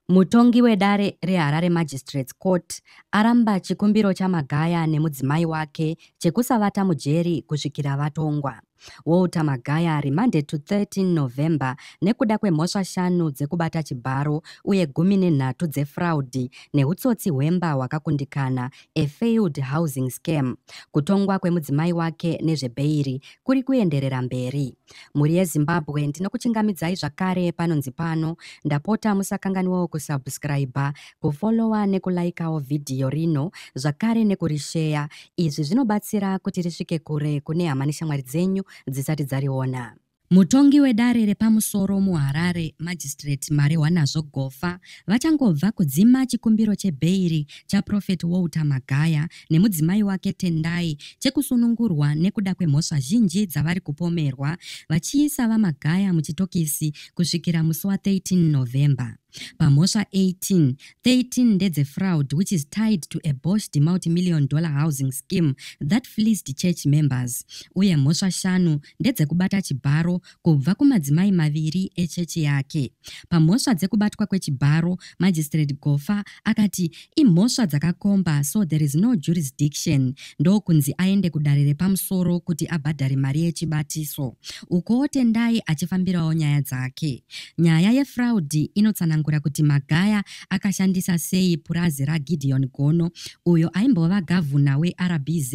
Mutongi wedare reHarare Magistrates Court aramba chikumbiro chaMagaya nemudzimai wake chekusavata mujeri kusvikira vatongwa. Walter Magaya remanded to 13 November nekuda kwemhosva shanu dzekubata chibharo uye gumi nenhatu dzefraudi nehutsotsi hwemba hwakakundikana, a failed housing scam. Kutongwa kwemudzimai wake nezvebheiri kuri kuenderera mberi. mhuri yezimbabwe ndinokuchingamidzai zvakare panonzi pano ndapota musakanganwawo kusubscribe kufollowa nekulaikawo vhidhiyo rino zvakare nekurisheya izvi zvinobatsira kuti risvike kure kune hama neshamwari dzenyu dzisati dzariona Mutongi wedare repamusoro muHarare, Magistrate Marehwanazvo Gofa, vachangobva kudzima chikumbiro chebheiri chaProphet Walter Magaya nemudzimai wake Tendai chekusunungurwa nekuda kwemhosva zhinji dzavari kupomerwa vachiisa VaMagaya muchitokisi kusvikira musi wa 13 November. Pamhosva 18, 13 ndedzefraud which is tied to a boshed multimillion dollar housing scheme that fleeced church members uye mhosva shanu ndedzekubata chibharo kubva kumadzimai maviri echechi yake. Pamhosva dzekubatwa kwechibharo, Magistrate Gofa akati imhosva dzakakomba so there is no jurisdiction ndokunzi aende kudare repamusoro kuti abhadhare mari yechibatiso. Ukowo Tendai achifambirawo nyaya dzake. Nyaya yefraudi inotsanangura kuti Magaya akashandisa sei purazi raGideon Gono uyo aimbova gavhuna weRBZ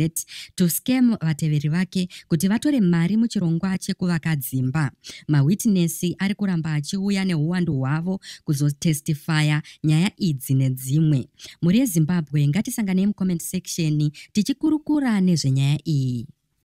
to scam vateveri vake kuti vatore mari muchirongwa chekuvaka dzimba. Mawitnesi ari kuramba achiuya nehuwandu hwavo kuzotestifaya nyaya idzi nedzimwe. Mhuri yeZimbabwe ngatisanganei mucomment section tichikurukura nezvenyaya iyi.